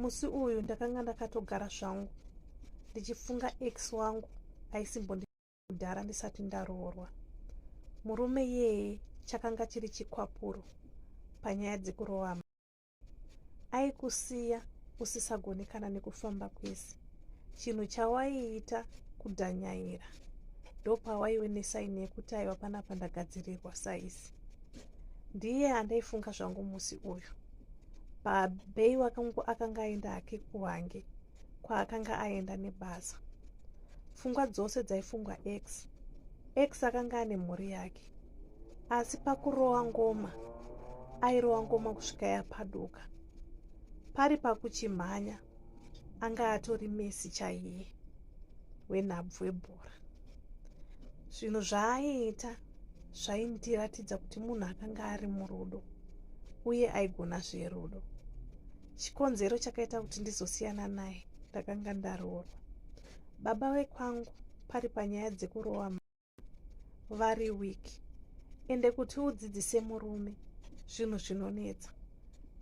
musi uyu ndakanga ndakatogara zvangu ndichifunga ex wangu aisimbondidhara ndisati ndaroorwa murume yeye chakanga chiri chikwapuro panyaya dzekuroama aikusiya usisagoni kana nekufamba kwese chinhu chawaiita kudhanyaira ndopawaiwe nesaini yekuti aiwa panapa ndagadzirirwa saisi ndiye andaifunga zvangu musi uyu babhei wakangu akanga aenda hake kuhange kwaakanga aenda nebasa fungwa dzose dzaifungwa x x akanga ane mhuri yake asi pakurowa ngoma airowa ngoma kusvika yapaduka pari pakuchimhanya anga atori messi chaiye wenhabvu webhora zvinhu zvaaiita zvaindiratidza kuti munhu akanga ari murudo uye aigona zverudo chikonzero chakaita kuti ndizosiyana naye ndakanga ndaroorwa baba vekwangu pari panyaya dzekurova vari weak ende kuti udzidzise murume zvinhu zvinonetsa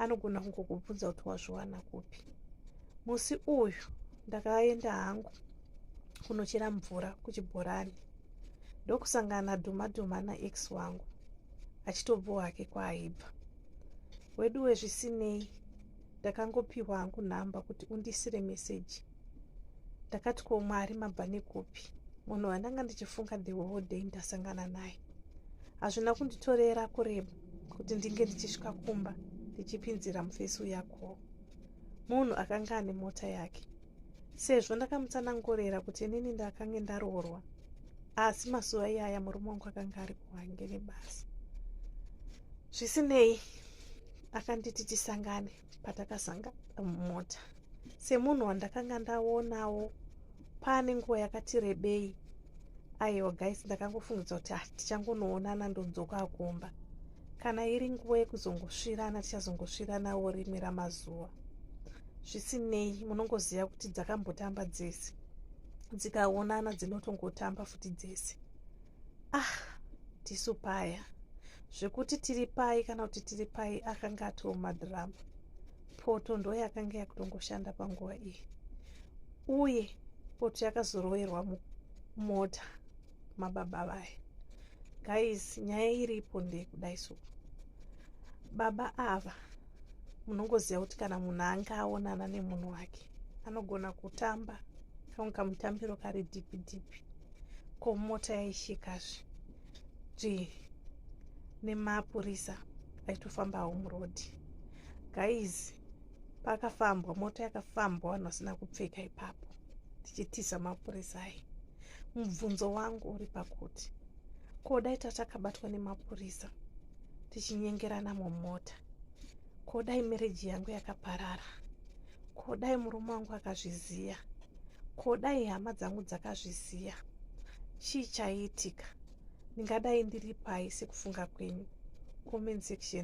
anogona kungokubvunza kuti wazviwana kupi musi uyu ndakaenda hangu kunochera mvura kuchibhorani ndokusangana dhuma dhuma naex wangu achitobvo hake kwaaibva wedu wezvisinei ndakangopiwa hangu nhamba kuti undisire meseji ndakati ko mwari mabva nekupi munhu wandanga ndichifunga the whole day ndasangana naye hazvina kunditorera kureba kuti ndinge ndichisvika kumba ndichipinzira mufesi uyakoo munhu akanga ane mota yake sezvo ndakamutsanangurira kuti inini ndakange ndaroorwa asi mazuva iyaya murume wangu akanga ari kuhange nebasa zvisinei akanditi tisangane patakazanga mumota semunhu wandakanga ndaonawo paane nguva yakati rebei aiwa guys ndakangofungidza kuti ah, tichangonoonana ndodzoka akumba kana iri nguva yekuzongosvirana tichazongosviranawo rimwe ramazuva zvisinei munongoziva kuti dzakambotamba dzese dzikaonana dzinotongotamba futi dzese ah tisu paya zvekuti tiri pai kana kuti tiri pai akanga atiwo madhirama poto ndo yakanga yakutongoshanda panguva iyi uye poto yakazoroverwa mota mababa vaya guys nyaya iripo ndeyekudai so baba ava munongoziva kuti kana munhu anga aonana nemunhu wake anogona kutamba kamwe kamutambiro kari dhipi dhipi ko mota yaishikazve zvi nemapurisa aitofamba home road guys pakafambwa mota yakafambwa vanhu vasina kupfeka ipapo tichitiza mapurisa ayi mubvunzo wangu uri pakuti ko dai tatakabatwa nemapurisa tichinyengerana mumota ko dai mereji yangu yakaparara ko dai murume wangu akazviziva ko dai hama dzangu dzakazviziva chii chaiitika ndingadai ndiri pai sekufunga kwenyu comment section